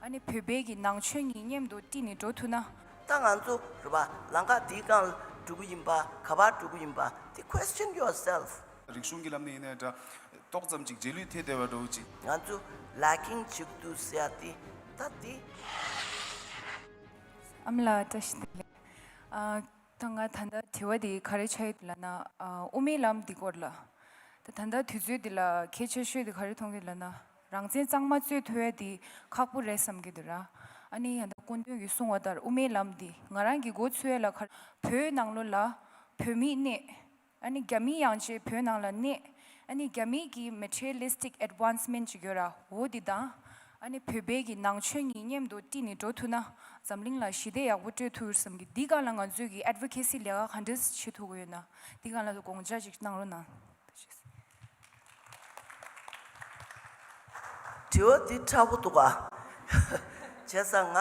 ཨ་ནི་བོད་སྦས་ཀྱི་ནང་ཆོས་གཉིས་མཉམ་དུ་དཀྲིས་ནས་འགྲོ་ཐུབ་ན། ད་ང་ཚོ་རུ་བ་ལང་ཁ་དེའི་སྒང་ལ་འགྲོ་གི་ཡིན་པ་ག་བར་འགྲོ་གི་ཡིན་པ་དེ question yourself། རིག་གཞུང་གི་ལམ་ནས་ཡིན་ནའི་འདྲ། ཏོག་ཙམ་ཅིག་རྗེས་ལུས་ཐེད་བསྡད་པར་འགྲོ་གི་ཅིག། ང་ཚོ lacking ཅིག་འདུག་ཟེར་ཡ་དེ་ད་དེ། ཨ་མ་ལགས་བཀྲ་ཤིས་བདེ་ལེགས། ད་ང་ད་ལྟ་དྲི་བ་འདི་ག་རེ་བྱ་ཡོད་འདུག་ལ་ན། དབུ་མའི་ལམ་འདི་སྐོར་ལ། ད་ད་ལྟ་དུས་ཚོད་འདི་ལ་ཁྱེད་ཆོས་ཤོས་འདི་ག་རེ་མཐོང་གི་འདུག་ལ་ན། རང་བཙན་གཙང་མ་རྩོད་ཐུ་ཡ་དེ་ཁག་པོ་རེད་བསམ་གི་འདུག་ར་ཨ་ནི་ཡང་དག་ཀུན་ཏུན་གྱི་གསུང་བ་ལྟར་དབུ་མའི་ལམ་དེ་ང་རང་གི་འགོ་ཚུད་ཡ་ལ་ཁར་བོད་ནང་ལོ་ལ་བོད་མི་གནས་ཨ་ནི་རྒྱ་མི་ཡང་བཅས་བོད་ནང་ལ་གནས་ཨ་ནི་རྒྱ་མི་གི Materialistic Advancement ཅིག་ཡོད་ར་འོ་དེ་དང་ཨ་ནི་བོད་པའི་གི་ནང་ཆོས་གཉིས་མཉམ་དུ་བཀྲིས་ནས་འགྲོ་ཐུ་ན་འཛམ་གླིང་ལ་ཞི་བདེ་ཡག་པོ་སྤྲོད་ཐུ་བསམ་གི་འདི་ག་ལ་ང་ཚོས་གི Advocacy ལས་ཀ་ག་འདྲི་བྱེད་ཐུ་གི་ཡོད་ན་འདི་ག་ལ་དགོངས་འཇགས་ཅིག་གནང་རོ་ན། དྲི་བ་འདི་ཁྲ་བོ་འདུག་བྱས་ཙང་ང་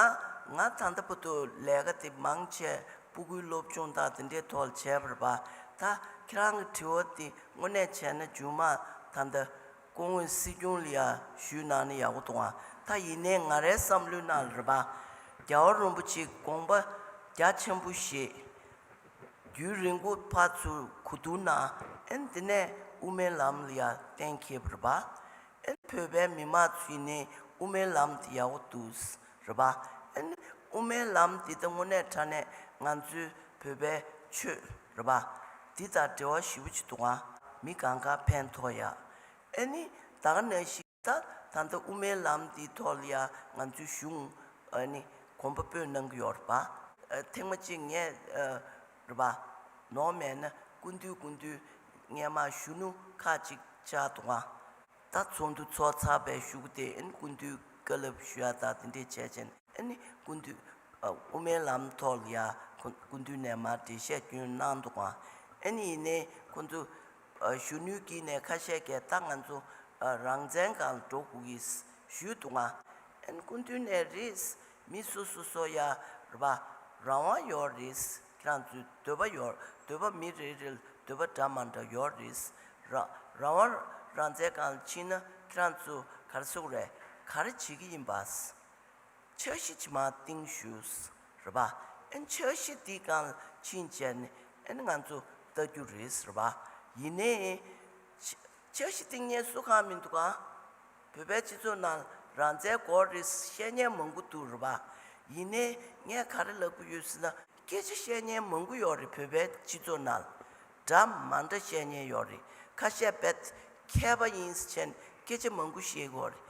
ང་ད་ལྟ་བུ་དུ་ལས་ཀ་དེ་མང་ཆེ་སྤུ་གུའི་སློབ་སྦྱོང་དག་དེ་འདྲའི་ཐོག་ལ་བྱས་པར་བ་ད་ཁྱེད་རང་གི་དྲི་བ་འདི་དངོས་གནས་བྱས་ན་རྒྱུན་མ་ད་ད་སྐུ་ངོས་སྲིད་སྐྱོང་ལ་ཡ་ཞུས་གནང་ན་ཡག་པོ་འདུག་ད་ཡིན་ནའི་ང་རའི་བསམ་བློའི་ནང་ལ་རེད་བ་རྒྱལ་བ་རོན་པོ་ཆེའི་དགོངས་པ་རྒྱ་ཆེན་པོ་ཞེས་རྒྱུའི་རི་མགོ་ཕར་ཚུར་གུ་དུར་ན་ཨན་དེ་ནས་དབུ་མའི་ལམ་ལ་ཡར་བརྟེན་ཁེབས་རེད་པ། ཨན་བོད་པའི་མི་མང་ཚོས་ནི་དབུ་མའི་ལམ་དེ་ཡག་པོ་འདུག་རེད་པ། ཨན་དབུ་མའི་ལམ་དེ་ད་དངོས་གནས་ཕྲ་ནས་ང་ཚོའི་བོད་པའི་ཆོས་རེད་པ། འདི་དང་འབྲེལ་བ་ཞིབ་པོ་བྱེད་དུ་ང་མི་གང་ག་ཕན་ཐོག་ཡ། ཨན་ནི་ད་ག་ནས་ཤི། ད་ད་ལྟ་དབུ་མའི་ལམ་འདིའི་ཐོག་ལ་ཡང་ང་ཚོའི་གཞུང་ནི་གོམ་པ་སྤོས་གནང་གི་ཡོད་རེད་པ། ཐེངས་མ་གཅིག་ངས་རེད་པ། ནོ་མེད་ན་ཀུན་འདུས་ཀུན་འདུས་ངས་མ་གཞུ་ནུ་ཁ་གཅིག་བཅག་འདུག་ང། ད་ཚོགས་འདུ་ཚོགས་ཚར་བའི་ཞུགས་ཏེ་ཀུན་འདུས་བཀའ་སླབ་ཞུ་ཡག་དག་དེ་འདྲས་བྱས་རྗེས་ནས་ཀུན་འདུས་དབུ་མའི་ལམ་ཐོག་ལ་ཡང་ཀུན་འདུས་ནས་མར་འགྲེལ་བཤད་རྒྱུན་གནང་འདུག་ང། ཡིན་ནའི་ཁོང་ཚོ། གཞོན་ནུའི་དཀྱིལ་ནས་ཁ་བཤད་ཀྱི་རྟགས་ང་ཚོ་རང་བཙན་གང་ལ་འགྲོ་དགོས་ཀྱི་ཞུས་འདུག་ང། སྐུ་མདུན་ནས་རེད། མི་སོ་སོ་སོ་ཡ་རེད་པ། རང་དབང་ཡོད་རེད། ཁྱེད་རང་ཚོའི་འདོད་པ་ཡོད་འདོད་པ་མི་རེ་རེ་ལ་འདོད་པ་འདྲ་མ་འདྲ་ཡོད་རེད། རང་དབང་རང་བཙན་གང་ལ་ཕྱིན་ན་ཁྱེད་རང་ཚོ་གར་སོང་རེད་ག་རེ་བྱེད་ཀྱི་ཡིན་པ། འཆར་གཞི་ཕྱི་མ་སྟེང་བཞུགས། རེད་པ། ཨན་འཆར་གཞི་འདི་གང་ལ་ཕྱིན་ཅད་ནས་ཨན་ང་ཚོ་བལྟ་རྒྱུ་རེད་ཟེར་བ། ཡིན་ནའི། འཆར་གཞི་སྟེང་ངལ་གསོ་ཁང་མི་འདུག་ག། བོད་པའི་སྤྱི་ཚོགས་ནང་རང་བཙན་སྐོར་རེད་བཤད་ཉན་མང་པོ་འདུག་རེད་པ། ཡིན་ནའི། ངས་ག་རེ་ལབ་གི་ཡོད་ཟེར་ན་སྐད་ཆ་བཤད་ཉན་མང་པོ་ཡོད་རེད་བོད་པའི་སྤྱི་ཚོགས་ནང། འདྲ་མ་འདྲ་བཤད་ཉན་ཡོད་རེད་ཁ་ཤས་བེད་སྐྱེལ་བ་ཡིན་ཟེར་མཁན་སྐད་ཆ་མང་པོ་བཤད་གི་ཡོད་རེད།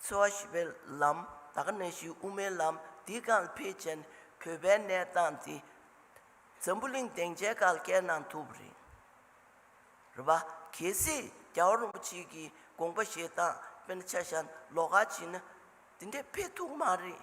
འཚོ་བ་ཞི་བའི་ལམ། དག་གནས་བཞི་དབུ་མའི་ལམ། འདི་རྐང་འཕེལ་ཅན། གུས་པའི་གནས་སྟངས་འདི། འཛམ་བུ་གླིང་སྡིངས་ཆའི་གག་རྒྱའི་ནང་ཐུབ་རེད། རེད་པ། གལ་སྲིད་རྒྱ་བོད་རིན་པོ་ཆེ་གི་དགོངས་པ་བཞེས་སྟངས་དཔེར་ན་ཆ་བཞག་ན་ལོག་ཁ་བྱིན་ན། འདི་འདྲའི་འཕེལ་ཐུག་མ་རེད།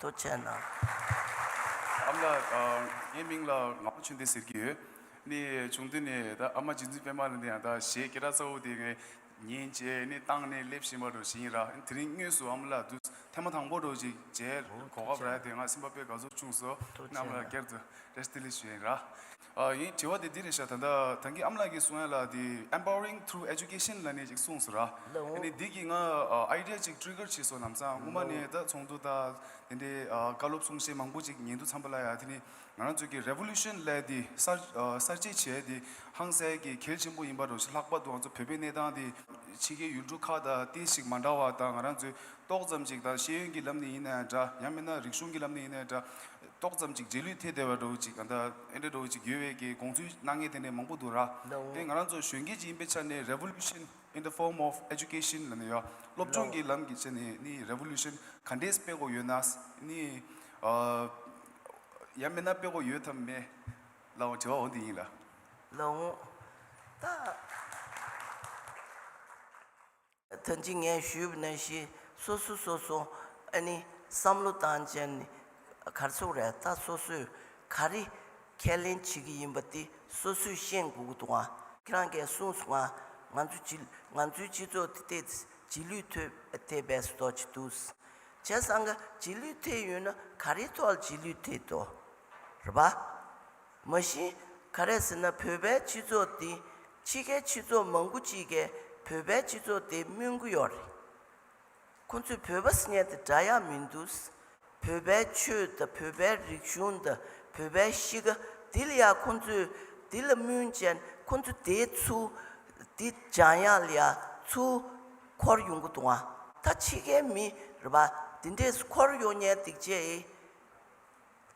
དུ་བྱས་ན། ཨ་མ་ལགས། ངའི་མིང་ལ་ངག་པོ་ཆོས་འདི་ཟེར་གྱི་ཡོད། ནི་བྱུང་དུས་ནས་ད་ཨ་མ་རྗེ་བཙུན་པད་མ་ལ་འདི་ཡང་ད་གཞས་སྐད་གྲགས་གཙོ་བོ་དེ་ངའི་ཉིན་བྱས་ནི་བཏང་ནས་སླེབས་བཞིན་པ་འགྲོ་བཞིན་ཡིན་ར་དེ་རིང་དངོས་སུ་ཨ་མ་ལགས་འདུག་ཐེངས་མ་དང་པོ་འགྲོ་ཅིག་བྱས་གོ་སྐབས་རག་དེ་ངའ་སེམས་པ་དཔེ་དགའ་ཚོར་ཆུང་སོ་ཨ་མ་ལགས་སྐྱར་དུ་རེ་སྟི་ལི་ཞུ་ཡིན་ར། ཨ་ཡིན་དྲི་བ་དེ་འདི་རེད་ཤག་ད་ལྟ་དེང་གི་ཨམ་ལགས་ཀྱི་གསུང་ཡ་ལ་དེ Empowering through Education ལ་ནས་ཅིག་གསུངས་སོ་ར། ཨེ་ནས་འདི་གི་ང Idea ཅིག Trigger བྱས་སོ་ལམ་སང་དངོས་མ་ནས་ད་ཚོགས་འདུ་དང་དེ་འདྲའི་བཀའ་སློབ་གསུང་བཤད་མང་པོ་ཅིག་ཉན་དུ་འཚམས་པ་ལ་ཡ་དེ་ནས་ང་རང་ཚོས་ཀྱི Revolution ལས་དེ་གསར་གསར་བརྗེ་བྱས་དེ་ཧང་སལ་གྱི་གལ་ཆེན་པོ་ཡིན་པ་རོ་ཤི་ལྷག་པ་དུའང་ཚོ་བོད་པའི་གནས་སྟངས་དེ། ཕྱི་རྒྱལ་ཡུལ་གྲུ་ཁག་དང་ཏེ་ཞིག་མ་འདྲ་བ་དང་ང་རང་ཚོས་ཏོག་ཙམ་ཅིག་དང་ཤེས་ཡོན་གྱི་ལམ་ནས་ཡིན་ན་ཡང་འདྲ་ཡང་མིན་ན་རིག་གཞུང་གི་ལམ་ནས་ཡིན་ན་ཡང་འདྲ། ཏོག་ཙམ་ཅིག་རྗེས་ལུས་ཐད་དེ་བ་འདྲ་བོ་ཅིག་ག་འདྲ་ཨེ་འདྲ་འདྲ་བོ་ཅིག་ཡོད་བས་ཀྱི་དགོངས་ཚུལ་གནང་ངེས་དེ་འདྲ་མང་པོ་འདུག་ར་དེ་ང་རང་ཚོ་གཞོན་སྐྱེས་ཅིག་ཡིན་པའི་ཆ་ནས Revolution in the form of Education ལ་ནི་ཡོད་སློབ་སྦྱོང་གི་ལམ་གྱི་ཆ་ནས་ནི Revolution ག་འདྲས་སྤེལ་དགོས་ཡོད་ན་ནི་ཡང་མེད་ན་སྤེལ་དགོས་ཡོད་དམ་མེད་ལ་འོང་དྲི་བ་འོ་འདི་ཡིན་ལ། ལོངས། ད། ད་ཅི་ངས་ཞུས་ན་ཤི་སོ་སོ་སོ་སོ་ཨ་ནི་བསམ་བློ་བཏང་ཅན་ནི་གར་ཚོགས་རེད་ད་སོ་སོས་ག་རེ་ཁས་ལེན་བྱེད་ཀྱི་ཡིན་པ་དེ་སོ་སོས་ཤེས་དགོས་ཀྱི་འདུག་ང་ཁྱེད་རང་གས་གསུངས་སོང་ང་ང་ཚོའི་ང་ཚོའི་སྤྱི་ཚོགས་དེ་ཐད་རྗེས་ལུས་ཐོད་ཐད་བས་སུ་དོགས་ཀྱི་འདུག་བྱས་ཙང་ཀ་རྗེས་ལུས་ཐད་ཡོད་ན་ག་རེའི་ཐོག་ལ་རྗེས་ལུས་ཐད་དོ་རེད་པ། མ་གཞི་ག་རེད་ཟེར་ན་བོད་པའི་སྤྱི་ཚོགས་འདི་ཕྱི་ཁའི་སྤྱི་ཚོགས་མང་པོ་གཅིག་གས་བོད་པའི་སྤྱི་ཚོགས་དེ་སྨྱོན་གི་ཡོག་རེད། ཁོ་ཚོས་བོད་པ་སྙད་དེ་བསྒྲགས་ཡག་མིན་འདུག་བོད་པའི་ཆོས་དང་བོད་པའི་རིག་གཞུང་དང་བོད་པའི་གཤིས་ཀ་དེ་ལ་ཡག་ཁོ་ཚོས་དེ་ལ་སྨྱོན་ཅན་ཁོ་ཚོ་དེའི་ཚུ་དེ་སྦྱང་ཡག་ལ་ཡག་ཚུ་འཁོར་ཡོང་གི་འདུག་ང་ད་ཕྱི་ཁའི་མི་རེད་པ་དེ་འདྲས་སུ་འཁོར་ཡོང་ཉན་སྡིག་ཅེས།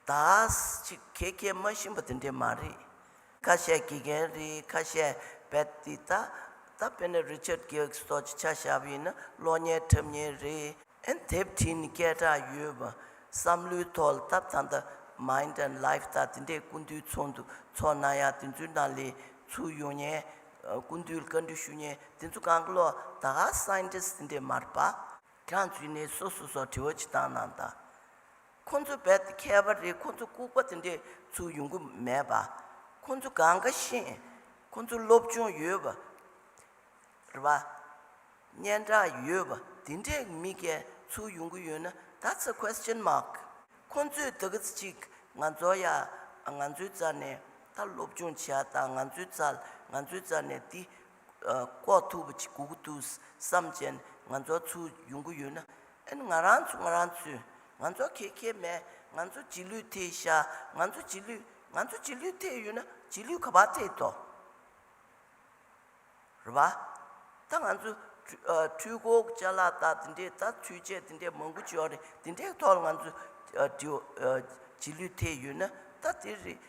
དྭགས་ཅིག་ཁྱེད་ཁས་མ་ཞུན་པ་དེ་འདྲས་མ་རེད། ཁ་ཤས་དགེ་རྒན་རེད་ཁ་ཤས་བེད་ཏི་ད་ད་བེད་ན་རི་ཆར་གེའུ་སོགས་ཀྱི་ཆ་ཞབས་ཡིན་ན་གློག་བརྙན་འཁྲབ་ཉེན་རེད་ཨེ་དེབ་བྲིས་ནས་སྐད་གྲགས་ཡོད་བ་བསམ་བློའི་ཐོག་ལ་ད་ད་ད Mind and Life ད་དེ་འདྲས་ཀུན་འདུས་ཚོགས་འདུ་ཚོགས་ན་ཡང་དེ་ཚོའི་ནང་ལས་ཚུགས་ཡོང་ཉེན་ཀུན་འདུས་ལ་བཀའ་འདྲི་ཞུ་ཉེན་དེ་ཚོ་གང་གི་ལོག་དྭགས Scientist དེ་འདྲས་མ་རེད་པ། དྲང་ཚུལ་ནས་སོ་སོ་སོགས་དྲི་བ་ཅི་བཏང་གནང་དང། ཁོ་ཚོ་རྦད་དེ་ཁྱད་པར་རེད་ཁོ་ཚོ་ལྐུགས་པ་དེ་འདྲས་ཚུལ་ཡོང་གི་མེད་པ། ཁོ་ཚོ་གང་དགའ་ཤེས། ཁོ་ཚོ་སློབ་སྦྱོང་ཡོད་པ། རེད་པ། སྙན་གྲགས་ཡོད་པ་དེ་འདྲས་མི་སྐད་ཚུལ་ཡོང་གི་ཡོད་ན That's a question mark ཁོ་ཚོས་ད་གི་ཅིག་ང་ཚོ་ཡ་ང་ཚོའི་རྩ་ནས་ད་སློབ་སྦྱོང་བྱས་དང་ང་ཚོའི་རྩ་ང་ཚོའི་རྩ་ནས་འདི་ལྐོག་ཐུབ་པ་ཅིག་དགོས་ཀྱི་འདུག་བསམ་བྱས་ནས་ང་ཚོ་ཚུར་ཡོང་གི་ཡོད་ན་ཨན་ང་རང་ཚོ་ང་རང་ཚོས་ང་ཚོ་ཁེ་ཁེ་མེད་ང་ཚོ་རྗེས་ལུས་ཐེག་ཤ་ང་ཚོ་རྗེས་ལུས་ང་ཚོ་རྗེས་ལུས་ཐེག་ཡོད་ན་རྗེས་ལུས་ག་པར་ཐེག་ཐོ་རེད་བ། ད་ང་ཚོ་འཕྲུལ་འཁོར་བཅའ་ལག་བཏགས་དེ་འདྲས་ད་འཕྲུལ་ཆས་དེ་འདྲས་མང་པོ་བྱོས་རེད་དེ་འདྲས་ཐོག་ལ་ང་ཚོ་རྗེས་ལུས་ཐེག་ཡོད་ན་ད་དེ་རེད་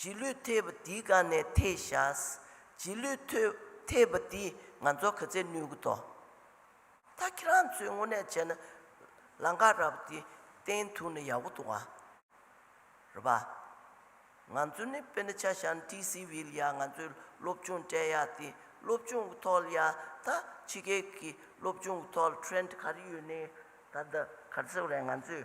རྗེས་ལུས་ཐེབས་པ་འདིའི་སྒང་ནས་ཐེག་བཞག། རྗེས་ལུས་ཐེབས་པ་འདི་ང་ཚོ་ག་ཚད་ནུས་གི་འདོག། ད་ཁྱེད་རང་ཚོས་དངོས་གནས་བྱས་ན། ལང་ཀ་ར་བ་འདི་བསྟན་ཐུབ་ན་ཡག་པོ་འདུག་ཨ། རེད་པ། ང་ཚོ་ནི་དཔེར་ན་ཆ་ཤང་ཏི་སི་བྷི་ལ་ཡ་ང་ཚོས་སློབ་ཆུང་སྤྲད་ཡག་སྟེ་སློབ་ཆུང་གི་ཐོག་ལ་ཡ་ད་ཕྱི་རྒྱལ་གྱི་སློབ་ཆུང་གི་ཐོག་ལ་ཁྲེན་ཏི་ག་རེ་ཡོད་ནི་ད་ད་ག་ཚོད་རེད་ང་ཚོས་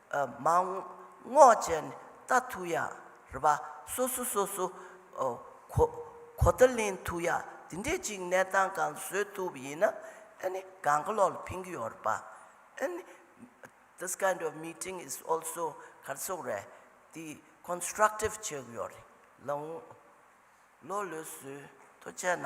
མ་རྔོག་ཅན་རྟ་ཐུག་ཡ་རེད་པ་སོ་སོ་སོ་སོ་གོ་ད་ལེན་ཐུག་ཡ་དེ་འདྲས་ཅིག་གནས་སྟངས་གང་བཟོས་ཐུག་པ་ཡིན་ན་ཨ་ནི་གང་གི་ལོག་ལ་ཕིན་གི་ཡོད་རེད་པ་ཨ་ནི this kind of meeting is also གར་ཚོགས་རེད་དེ constructive བྱེད་གི་ཡོད་རེད་ལ་འོང་ལོ་ལོས་བཟོས་ཐུག་བྱས་ན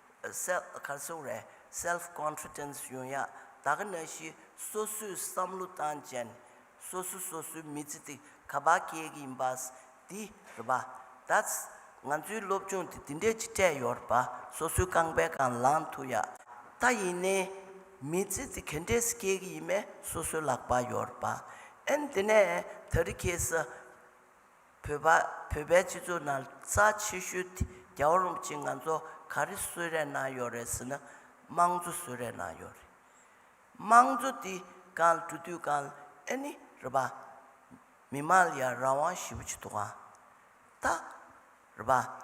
Self Confidence། ཡོང་ཡ་ད་ག་ན་ཤི་སོ་སོའི་བསམ་བློ་བཏང་ཅན་སོ་སོ་སོ་སོའི་མི་ཚེ་དེ་ག་པ་གས་གི་ཡིན་པས་དེ་རེད་པ་ད་ང་ཚོའི་སློབ་སྦྱོང་དེ་དེ་འདྲས་ཅིག་སྤྲད་ཡོད་རེད་པ་སོ་སོའི་རྐང་པའི་གང་ལངས་ཐུག་ཡ་ད་ཡིན་ནའི་མི་ཚེ་དེ་གས་འདྲས་སུ་སྐྱེལ་གི་ཡིན་མས་སོ་སོའི་ལག་པ་ཡོད་རེད་པ་ཨན་དེ་ནས་ད་རི་ཁས་སུ། བོད་པ་བོད་པའི་སྤྱི་ཚོགས་ནང་རྩ་ཆེ་ཤོས་དེ་རྒྱ་བོ་རིན་པོ་ཆེ་ང་ཚོ་ག་རེ་གསོད་རན་གནང་ཡོད་རེད་ཟེར་ན་དམངས་གཙོ་གསོད་རན་གནང་ཡོད་རེད། དམངས་གཙོ་དེ་གང་ལ་གྲུ་དུས་གང་ལ་ཨེ་ནི་རེད་པ། མི་དམངས་ལ་ཡང་རང་དབང་ཞེས་པོ་ཆེ་འདུག་ག་ད་རེད་པ།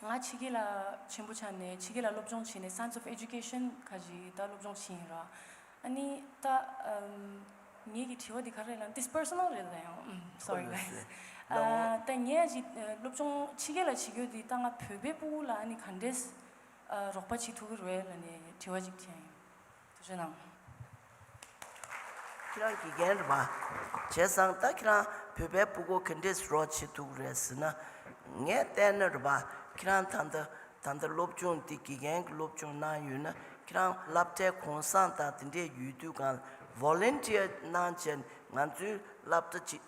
ང་ཕྱི་རྒྱལ་ལ་ཆེན་པོ་ཆགས་ནས་ཕྱི་རྒྱལ་ལ་སློབ་སྦྱོང་བྱས་ནས Science of Education ཁ་ཞིག་ད་སློབ་སྦྱོང་བྱེད་ཡིན་ར། ཨ་ནི་ད་ངེད་ཀྱི་དྲི་བ་འདི་ག་རེད་ལ་འདི Personal རེད་ལ་ཡང Sorry guys ད་ངེད་ཀྱི་སློབ་སྦྱོང་ཕྱི་རྒྱལ་ལ་བྱེད་རྒྱུ་འདི་ད་ང་བོད་པའི་སྤུ་བོ་ལ་ཨ་ནི་ག་འདྲས་རོགས་པ་བྱེད་ཐུབ་ཀྱི་རེད་ལ་ནས་དྲི་བ་ཅིག་བྱས་ཡིན། ཐུགས་ཆེན་ནམ། ཁྱེད་རང་དགེ་རྒན་རེད་པ། བྱས་ཙང་ད་ཁྱེད་རང་བོད་པའི་སྤུ་གོ་གན་དྲེས་རོགས་བྱེད་འདུག་རེད་ཟེར་ན། ངས་བལྟས་ན་རེད་པ། ཁྱེད་རང་ད་ལྟ་ད་ལྟ་སློབ་སྦྱོང་འདི་དགེ་རྒན་གྱི་སློབ་སྦྱོང་གནང་ཡོད་ན་ཁྱེད་རང་བསླབ་གྲྭའི་གོང་བཟང་དང་དེ་འདྲའི་ཡོད་དུས་གང་ལ Volunteer གནང་བྱས་ང་ཚོའི་བསླབ་གྲྭ་གཅིག་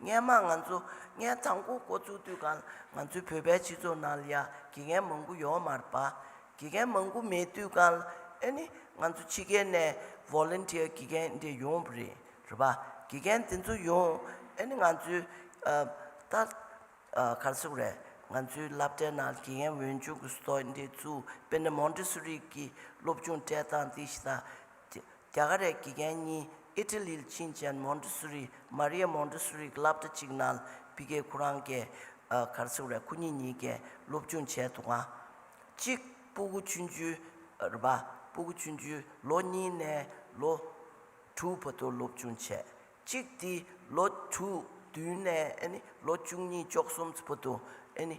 སྔས་མ་ང་ཚོ་སྔས་ཐང་གོ་གོ་ཚུགས་དུས་གང་ང་ཚོའི་བོད་པའི་སྤྱི་ཚོགས་ནང་ལ་ཡ་དགེ་རྒན་མང་པོ་ཡོད་མ་རེད་པ། དགེ་རྒན་མང་པོ་མེད་དུས་གང་ལ་ཨེ་ནི་ང་ཚོ་ཕྱི་རྒྱལ་ནས Volunteer དགེ་རྒན་འདི་ཡོང་པ་རེད་རེད་པ། དགེ་རྒན་དེ་ཚོ་ཡོང་ཨེ་ནི་ང་ཚོའི་ཏར་གར་སོགས་རེད་ང་ཚོའི་སླབ་གྲྭའི་ནང་དགེ་རྒན་འོས་སྦྱོང་གི་སོ་འདི་ཚུགས་པེ་ནི Montessori གི་སློབ་སྦྱོང་སྤྲད་སྟངས་དེ་ཞིག་དང། རྒྱ་གར་རས་དགེ་རྒན་གཉིས་ཨི་ཏི་ལིལ་ཕྱིན་ཅན་མོན་ཏི་སུ་རི། Maria Montessori། ཀྱི་བསླབ་གྲྭ་གཅིག་ནལ་བི་ཀའི་ཁུ་རང་ཀའི་གར་ཚེ་རེ་ཁོ་གཉིས་གཉིས་ཀས་སློབ་སྦྱོང་བྱས་འདུག་ང། གཅིག་སྤུ་གུ་ཆུན་ཆུའི་རེ་བ། སྤུ་གུ་ཆུན་ཆུའི་ལོ་གཉིས་ནས་ལོ་དྲུག་བར་དུ་སློབ་སྦྱོང་བྱས། གཅིག་དེ་ལོ་དྲུག་བདུན་ནས་ཨེ་ནི་ལོ་བཅུ་གཉིས་ཅོག་གསུམ་བར་དུ་ཨེ་ནི།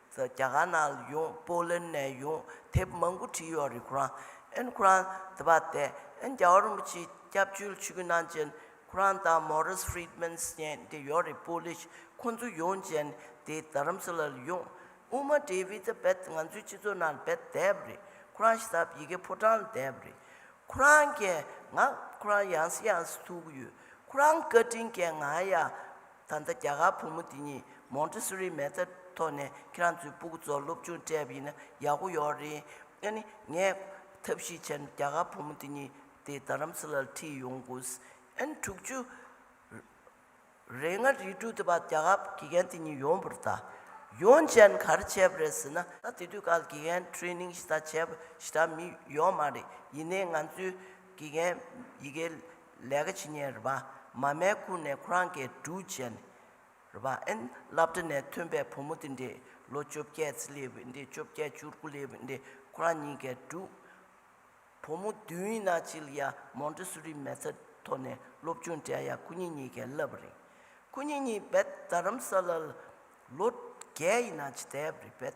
རྒྱ་གར་ནང་ལ་ཡོང་པོ་ལན་ནས་ཡོང་དེབ་མང་པོ་བྲིས་ཡོད་རེད་ཁོ་རང་ཨན་ཁོ་རང་དེ་པ་དེ་ཨན་རྒྱ་བ་རིན་པོ་ཆེའི་སྐྱབས་བཅོལ་ཆོས་གོས་གནང་རྗེས་ཁོ་རང་དང་མོ་རིས་ཧྥི་རིད་མན་ཟེར་དེ་ཡོད་རེད་པོ་ལིས་ཁོང་ཚོ་ཡོང་རྗེས་དེ་རྡ་རམ་ས་ལ་ལ་ཡོང་དབུ་མ་འདྲེའི་བྷི་ཛ་བེད་ང་ཚོའི་སྤྱི་ཚོགས་ནང་ལ་བེད་བསྡད་པ་རེད་ཁོ་རང་ཤི་སར་ཡི་གེ་ཕོ་བྲང་ལ་བསྡད་པ་རེད་ཁོ་རང་གིས་ང་ཁོ་རང་ཡང་སྲིད་ཡང་སྲིད་ཐུག་གི་ཡོད་ཁོ་རང་བཀའ་དྲིན་གྱིས་ང་ཡང། ད་ལྟ་རྒྱ་གར་བུ་མོ་དེ་གཉིས་མོང་ཏི་སུ་རིའི་མལ་ཚ་ཐོག་ནས་ཁྱེད་རང་ཚོའི་སྤུ་གུ་ཚོར་སློབ་ཆུང་སྤྲད་པ་ཡིན་ན་ཡག་པོ་ཡོད་རེད་ཨ་ནི་ངས་ཐབས་ཤེས་བྱས་ན་རྒྱ་གར་བུ་མོ་དེ་གཉིས་དེ་རྡ་རམ་ས་ལ་ལ་ཁྲིད་ཡོང་དགོས་ཨ་ནི་དྲུག་ཅུ་རེ་ལྔ་རེ་དྲུག་དེ་བར་རྒྱ་གར་དགེ་རྒན་དེ་གཉིས་ཡོང་བར་བལྟ། ཡོང་བྱས་ན་ག་རེ་བྱས་པ་རེད་ཟེར་ན། ད་དེ་དུས་ཀར་དགེ་རྒན Training ཞེ་ད་བྱས་པ་ཞེ་དྲག་མི་ཡོང་མ་རེད་ཡིན་ནའི་ང་ཚོའི་དགེ་རྒན་ཡི་གེ་ལས་ཀ་བྱེད་ཉེར་བ་མ་མའི་ཁུར་ནས་ཁོ་རང་གི་འགྲུལ་བྱས་ནས་ར་ཨན་བླ་བྲེ་ནས་ཐོན་པའི་བུ་མོ་དེ་འདི་ལོ་བཅོ་བརྒྱད་ཚེ་ལེ་བི་འདི་བཅོ་བརྒྱད་བཅུ་དགུ་ལེ་བི་འདི་ཁོ་རང་གཉིས་ཀའི་འགྲུལ། བུ་མོ་བདུན་ཡིན་ན་གཅིག་ལ་ཡ་མོན་ཏི་སུ་རི་མེ་ཚ་ཐོ་ནས་སློབ་ཆུང་འགྲན་ཡ་ཁུ་ཉིན་གཉིས་ཀས་བསླབ་པ་རེད། ཁུ་ཉིན་གཉིས་བད་རྡ་རམ་ས་ལ་ལ་ལོ་བརྒྱད་ཡིན་ན་ཇི་ལྟའི་རི་བད་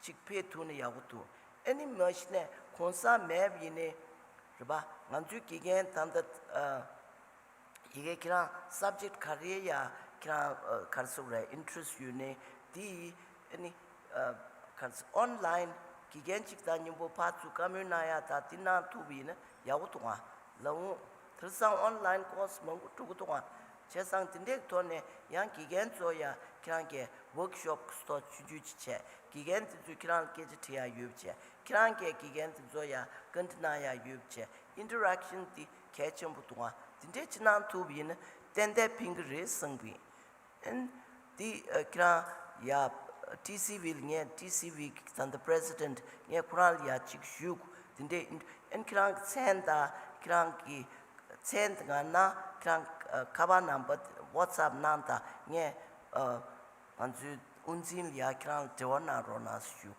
གཅིག་ཕེ་ཐུ་ནི་ཡག་པོ་འདུག་ཨེ་ནི་མ་གཞི་ནས་གོང་ས་མེད་ཡིན་ནི་རེད་པ་ང་ཚོའི་དགེ་རྒན་དམ་ད་ཡི་གེ་ཁྱེད་རང subject ག་རེ་ཡ་ཁྱེད་རང་གར་གཟུགས་རེད interest ཡོད་ནི་དེ་ཡི་ཨེ་ནི་གར་གཟུགས online དགེ་རྒན་གཅིག་ད་སྙིང་པོ་ཕར་ཚུར་བཀའ་མོལ་གནང་ཡ་ད་དེ་གནང་ཐུབ་ཡིན་ནི་ཡག་པོ་འདུག་ང་ལ་འོང་དེར་སང online course མང་པོ་གྲུག་གི་འདུག་ང་བྱས་ཙང་དེ་འདྲའི་ཐོག་ནས་ཡང་དགེ་རྒན་ཚོ་ཡང་ཁྱེད་རང་གི Work Shop ཐོག་ཆུད་ཆུད་ཅིག་བྱས་དགེ་རྒན་དེ་ཚོས་ཁྱེད་རང་ལ་སྐད་ཆ་དྲི་ཡ་ཡོད་བྱས་ཁྱེད་རང་གིས་དགེ་རྒན་དེ་ཚོ་ཡང་བཀའ་འདྲི་གནང་ཡ་ཡོད་བྱས Interaction དེ་གལ་ཆེན་པོ་འདུག་ཨང་དེ་འདྲའི་ཅིག་གནང་ཐུབ་ཡིན་ན་ཏན་ཏན་ཕན་གི་རེད་གསུངས་པ་ཡིན། དེ་ཁྱེད་རང་ཡ། ཀྲི་སི་བྷིལ་ངས་ཀྲི་སི་བྷིལ་གི་ཚན་དུ president ངས་ཁོ་རང་ལ་ཡ་གཅིག་བཞུགས་དེ་འདྲའི་ཨིན། ཨིན་ཁྱེད་རང་གི་ཚན་དང་ཁྱེད་རང་གི། ཚན་དེ་ག་ན་ཁྱེད་རང་ཁ་པར་ནམ་པར whatsapp གནང་དང་ངས། ང་ཚོའི་དབུ་འཛིན་ལ་ཡ་ཁྱེད་རང་ལ་དྲི་བ་གནང་རོགས་གནང་ཞུ།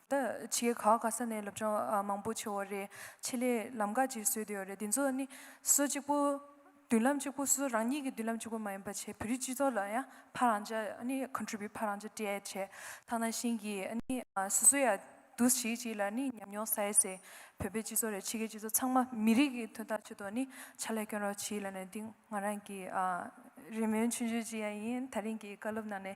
ད་ཆའི་གྷའོ་གྷ་ས་ནས་སློབ་སྦྱོང་མང་པོ་བྱེད་འོ་རེད། ཆེད་ལས་ལམ་ཁ་ཅིག་བཟོས་ཏེ་འོ་རེད། འདི་ཚོ་ནི་སོ་གཅིག་པོ། མདུན་ལམ་གཅིག་པོ་སོ་རང་ཉིད་ཀྱི་མདུན་ལམ་གཅིག་པོ་མ་ཡིན་པ་ཆེད་བོད་རིགས་སྤྱི་ཚོགས་ལ་ཡང་ཕ་རང་ཅག་ནི Contribute ཕ་རང་ཅག་སྤྲད་ཆེད་ཐང་ན་ཤིང་གི་ནི་སོ་སོ་ཡང་འདུ་ཞིག་ཅིག་ལ་ནི་ཉམས་མྱོང་ས་ཡེ་ཟེར་བོད་པའི་སྤྱི་ཚོགས་རེད་ཕྱི་རྒྱལ་སྤྱི་ཚོགས་ཚང་མ་མི་རིགས་ཀྱི་དོན་དག་ཆུད་དོ་ནི་ཆ་ལས་སྐྱོན་རོགས་ཅིག་ལ་ནི་འདི་ང་རང་གི་རེ་སྨོན་ཆུང་ཆུང་ཅིག་ཡང་ཡིན་ད་རིང་གི་བཀའ་སློབ་ནང་ནས།